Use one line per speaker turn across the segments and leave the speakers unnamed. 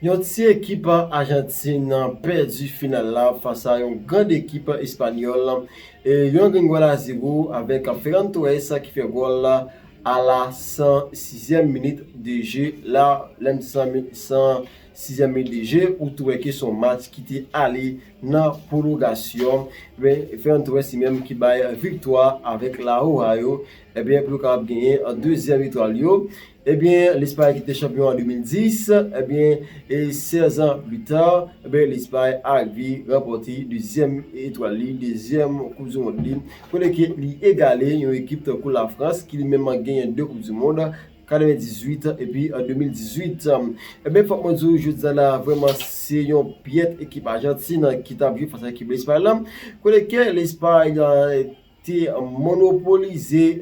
Yon ti ekip Ajantin pèdi final la fas a yon grand ekip Espanyòl, yon gen gòl a 0 avèk Ferran Torres ki fè gòl la a la 106 zièm minit de je, la lè m di 106 zièm minit de je ou tou wè ke son match ki te ale nan pwolongasyon, men Ferran Torres li menm ki bay viktwa avèk Laroja yo, ebyen pou yo kapab genyen 2 zièm etwal yo. Ebyen, Lespay ki te chanpyon an 2010, ebyen, 16 ans plus tard, ebyen, Lespay arive ranpòte dezyèm etwal li, dezyèm koup du mond li, kote ke li egale yon ekip tankou la Frans ki li menm genyen 2 koup du mond, 98 epi 2018. Ebyen, fòk mwen di w jodi a la a vrèman se yon pyèt ekip Ajantin ki tap jwe fas a ekip Lespay la, kote ke Lespay. te monopolize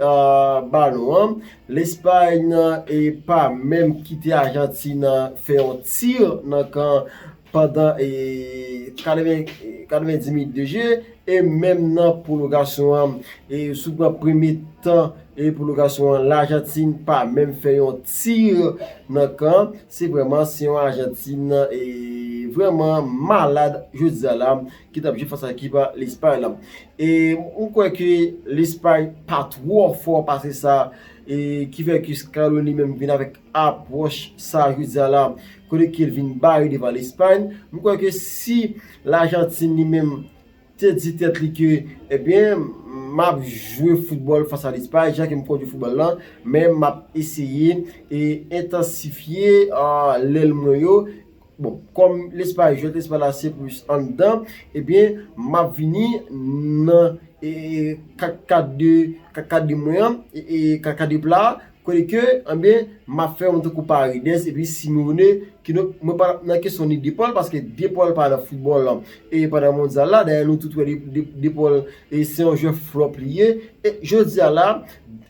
balon an, Lespay nan e pa menm kite Ajantin fè yon tir nan kan pandan 90 minit de je e menm nan pwologasyon an. E si w pran premye tan e pwologasyon an, Lajantin pa menm fè yon tir nan kan, se vreman se yon Ajantin vreman malad jodi a la. Ki tap jwe fas a ekip a Lespay la. E m kwè ke Lespay pa twò fò pase sa. E ki fè ke Scaloni menm vin avèk apwòch sa jodi a la. Kote ke l vin bare devan Lespay. M kwè ke si Lajantin li menm te di tèt li ke ebyen map jwe foutbòl fas a Lespay jan ke m konn jwe foutbòl la. Men map eseye e entansifye lèl mwen yo. Bon, kòm lespay, jwèt lespay la se plis anndan, ebyen m ap vini nan kakade, kakade mwen an, kakade pla a, kote ke, ebyen, m ap fè yon tankou Paredes epi Simeone, ki donk mwen pa nan kesyon ni De Paul, paske De Paul pa nan foutbòl lan, e pa nan mondyal la, dayè nou tout wè De Paul se yon jwè flòp li ye, e jodi a la,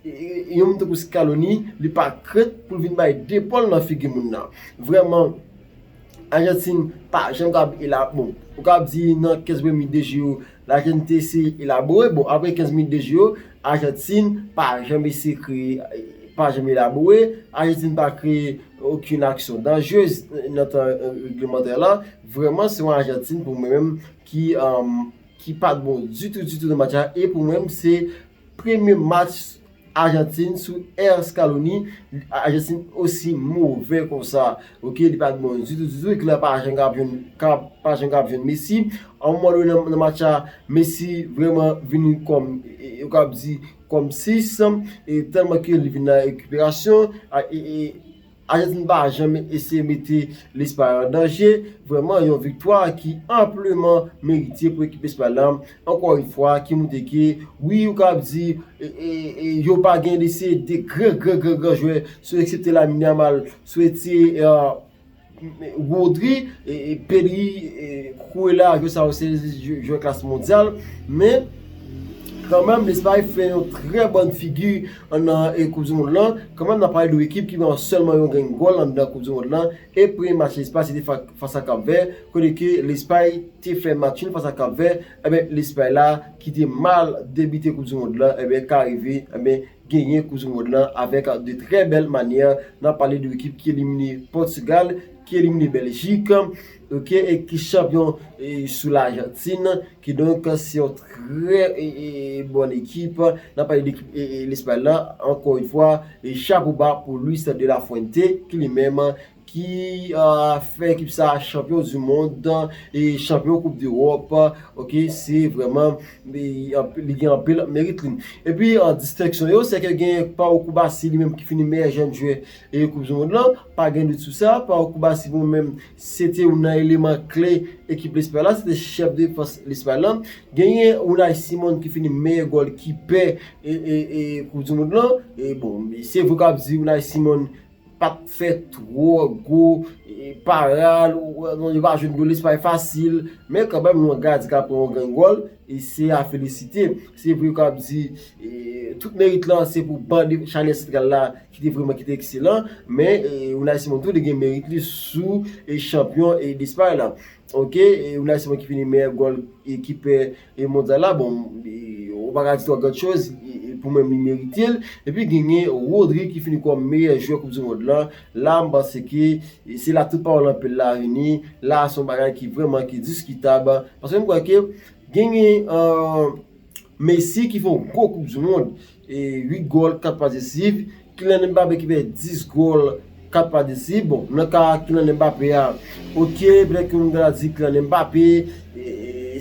yon moun tankou Scaloni, li pa krent pou l vin bay De Paul nan figi moun nan. Vrèman, Ajantin pa janm kab elabore. Bon, ou kab di nan 15 premye de jou yo, Lajantin te eseye elabore. Bon, apre 15 premye de jou yo, Ajantin pa janm eseye kreye, pa janm elabore. Ajantin pa kreye okenn aksyon danjrez nan tan reglemantè la. Vrèman, se yon Ajantin pou mwen menm ki pa t bon ditou ditou nan match la. E pou mwen menm, se premye match Argentine sou air scaloni Argentine osi move konsa ok li pat bon ditou ditou ekip la pa janm kap jwenn Messi a un moman done nan match la Messi vreman vini kòm yo kap di kòm 6 e tèlman ke li vin nan rekiperasyon. Ajantin pa janm eseye mete Lespay an danje, vrèman yon viktwa ki anpleman merite pou ekip Espay la, ankò yon fwa ki moutre ke wi ou kab di yo pa gen lese de gran gran gran gran jwè sou eksepte Lamine Yamal, sou ete Rodri, Pedri, Cucurella jwè sa yo se jwè klas mondyal men kanmèm Lespay fè yon trè bòn figi. Anndan koup di mond lan, kanmenm n ap pale de yon ekip ki gen sèlman yon grenn gòl anndan koup di mond lan e premye match Lespay se te fas a Kap Vè kote ke Lespay te fè match nul fas a Kap Vè enben Lespay la ki te mal debite koup di mond lan enben ka rive enben genyen koup di mond lan avèk de trè bèl manyè n ap pale de yon ekip ki elimine Pòtigal ki elimine Bèljik ok e ki chanpyon sou Lajantin Kidonk, se yon trè bòn ekip, n ap pale de ekip Lespay la, ankò yon fwa, chapo ba pou Luis de la Fuente, ki li menm ki fè ekip sa a chanpyon di mond, chanpyon koup dewòp, ok, se vrèman, li gen anpil merit li. Epi, distenksyon yo, se ke gen Pau Cubarsí li menm ki fini meyè jèn jwè koup di mond lan, pa gen dout sou sa, Pau Cubarsí pou mwen menm, Se te youn nan eleman kle ekip Lespay la, se te chèf defans Lespay la. Genyen Unai Simon ki fini meyè gòl kipè koup di mond lan. E bon, se vre ke w ap di Unai Simon pa t fè twò gwo parad, yo pa jwenn gòl Lespay fasil, men kanmèm yon gadyen ki ap pran yon grenn gòl, se a felisite. Se vre ke w ap di tout merit lan se pou ban de chalè santral la ki te vreman ki te ekselan, men Unai Simon tou li gen merit li sou chanpyon Despay la ok, Unai Simon ki fini meyè gòl kipè mondyal la bon ou pa ka di twò gòd choz pou mwen li merite l, epi genyen Rodri ki fini kòm meyè jwè koup di mond lan, la m panse ke se la tout pawòl anpil la vini, la son bagay ki vreman ki diskitab, paske m kwè ke genyen. Messi ki fè yon gwo koup du mond, 8 gòl 4 pas desisiv, Kylian Mbappé ki fè 10 gòl 4 pas desisiv, bon nan ka Kylian Mbappé a, ok petèt ke moun ta di Kylian Mbappé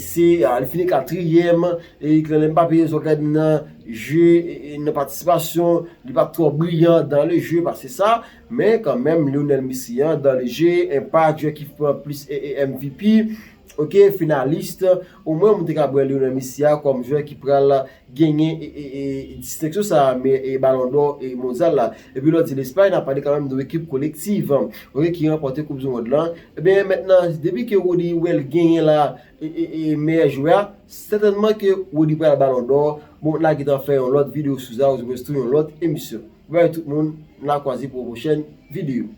se, li fini 4 trièm, e Kylian Mbappé sou gade nan jeu, nan patisipasyon, li pa trò briyan dan le jeu pase sa, men kan menm Lionel Messi an dan le jeu, enpak, jwè ki fè plis MVP. ok finalist omwen mwen te kab wè Lionel Messi a kòm jwè ki pral genyen disteksyon sa e balon dò e mondyal la epi lò di Lespay nan pale kanmenm de ekip kolektiv ok ki ranpòte koup di mond lan ebyen mèt nan depi ke Rodi wè l genyen la e meyè jwè a sètènman ke Rodi pral balon dò bon na gitan fè yon lòt videyo sou sa ou jwè sou yon lòt emisyon bye tout moun na kwaze pou yon pwochèn videyo.